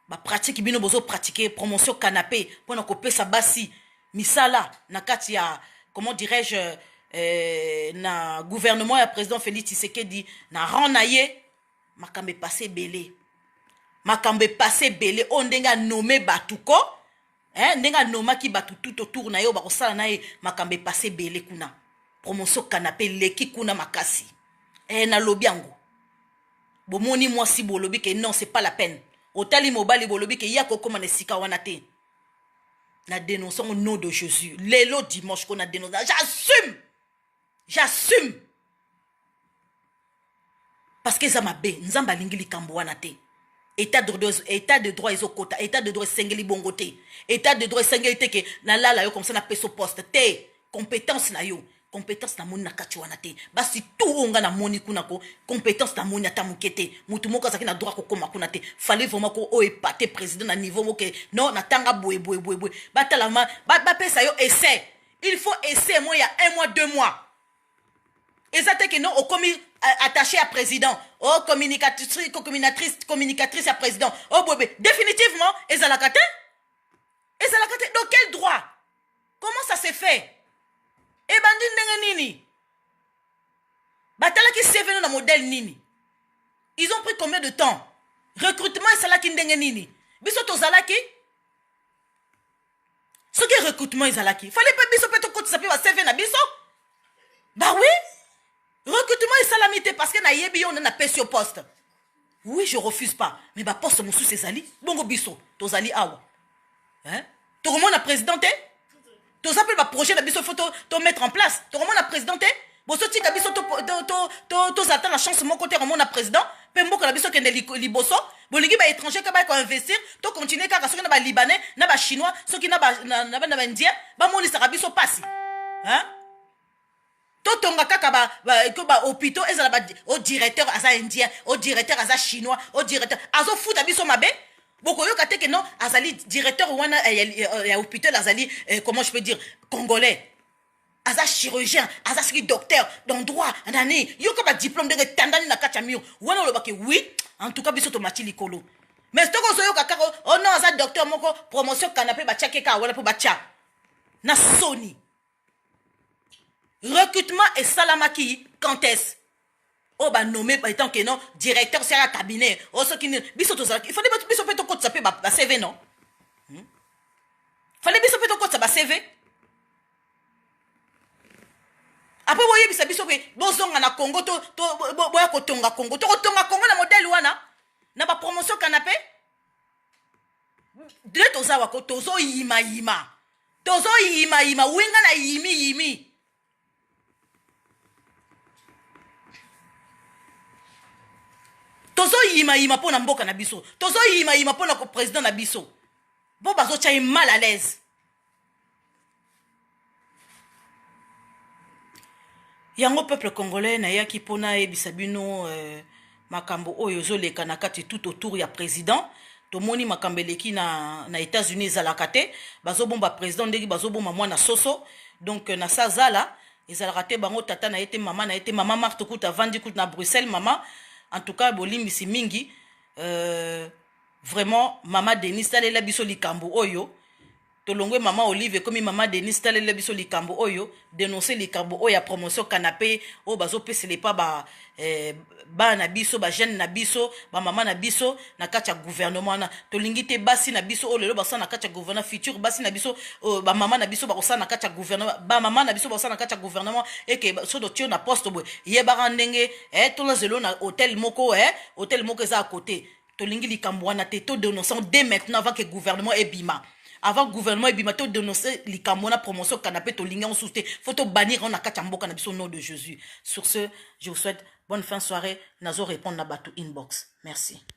Speaker 1: bapratike bino bozo pratike promotion canape mpo na kopesa basi misala na kati ya comment dirais-je eh, na gouvernement ya président félix tshisekedi na rang na ye makambo epase ebele makambo epase ebele oyo ndenge anome bato ko eh, ndenge anomaki bato tout autour na ye oyo bakosala na ye makambo epase ebele kuna promotion canape eleki kuna makasi eh, nalobi yango bomoni mwasi bolobi ke non c'est pas la peine otali mobali bolobi ke ye akokoma na esika wana te na denonce yango nom de jésus lelo dimanche ko na denonce j'assume j'assume parce que eza mabe nzambe alingi likambo wana te état de droit état de droit ezokota état de droit esengeli bongo te état de droit esengeli te ke nalala yo comme ça na peso poste te compétence na yo competence na moni na kati wana te basi tu oyo nga na moni kuna ko competence na moni ata moke te motu moko azalaki na droit kokoma kuna te fallait vraiment ko oyo epate président na niveau moko ke non natanga boye boye boye boye batala ma ba- bapesa yo essai il faut essai moi ya un mois deux mois eza te ke non okomi euh, attaché ya président o communicatrice communicatrice communicatrice ya président o boye boye définitivement ezalaka te ezalaka te dans quel droit comment ça se fait ebandi ndenge nini batalaki cvno na modèle nini ils ont pris combien de temps recrutement esalaki ndenge nini biso tozalaki soki recrutement ezalaki fale mpe biso mpe tokotisa mpe bacv na biso bawi recrutement esalami te parce que nayebi yo nde napesi yo poste Oui je refuse pas mais ba poste mosusu ezali bongo biso tozali awa hein? tokomona président te toza mpe baprojet na biso fo tomettre en place tokomona président te bozotika biso tozala ata na chance moko te komona président mpe mboka na biso kende liboso bolingi baétranger kaka bakoinvestir tocontinue kaka soki na balibanais na bachinois soki na baindien bamonisaka biso mpasi totonga kaka ba, ba, ko ba hopitaux ezala ba o oh, directeur aza indien o oh, directeur aza chinois o oh, directeur azofuta biso mabe bokoyoka te ke non azali directeur wana eh, ya, ya, ya hôpital azali eh, comment je peux dire congolais aza chirurgien aza soki docteur dans droit nani yoka badiplôme ndenge etandani na kati ya mur wana olobaki oui en tout cas biso tomati likolo mais soki ozoyoka kaka o oh non aza docteur moko promotion kanape batiaki kaka wana mpo batya na soni recrutement esalamaki quand est-ce oyo banome etant que non directeur sera cabinet o oh, soki nini biso tozalaki ifale biso mpe tokotisa mpe bacv non hmm? fale biso mpe tokotisa bacv apres boyebisa biso mpe bozonga na congo boya kotonga congo tokotonga congo na modele wana na bapromotion kanape de toza wako tozoyimayima tozo yima yima wi nga na yimi yimi tozo yima yima mpo na mboka na biso tozo yima yima mpo na ko president na biso bo bazotya ye mal à l'aise yango peuple congolais nayaki mpo nayebisa bino euh, makambo oyo ezoleka na kati tout autour ya president tomoni makambo eleki na, na états-unis ezalaka te bazobomba president ndenge bazobomba mwana soso donc na sazala ezalaka te bango tata na ye te mama na ye te mama marte kuta avandi kuta na bruxelles mama en tout cas bolimbisi mingi euh, vraiment mama denis talela biso likambo oyo Tolongwe maman Olive ekomi maman Denise talela biso likambo oyo denoncer likambo oyo ya promotion canapé oyo bazopesela epa ba eh, bana na biso ba jeune na biso ba mama na biso na kati ya gouvernement wana tolingi te basi na biso oyo lelo basala na kati ya gouvernement futur basi na biso oyo ba mama na biso bakosala na kati ya gouvernement ba mama na biso bakosala na kati ya gouvernement eke so totio na poste boye yebaka ndenge eh, tolazelo na hotel moko eh, hotel moko eza ya kote tolingi likambo wana te to denonçant dès maintenant avant que gouvernement ebima avant gouvernement ebima to denonce likambo wana promotion kanape tolingi yango susu te fo tobanir yango na kati ya mboka na biso nom de jésus sur ce je vous souhaite bonne fin soirée nazo répondre na bato inbox merci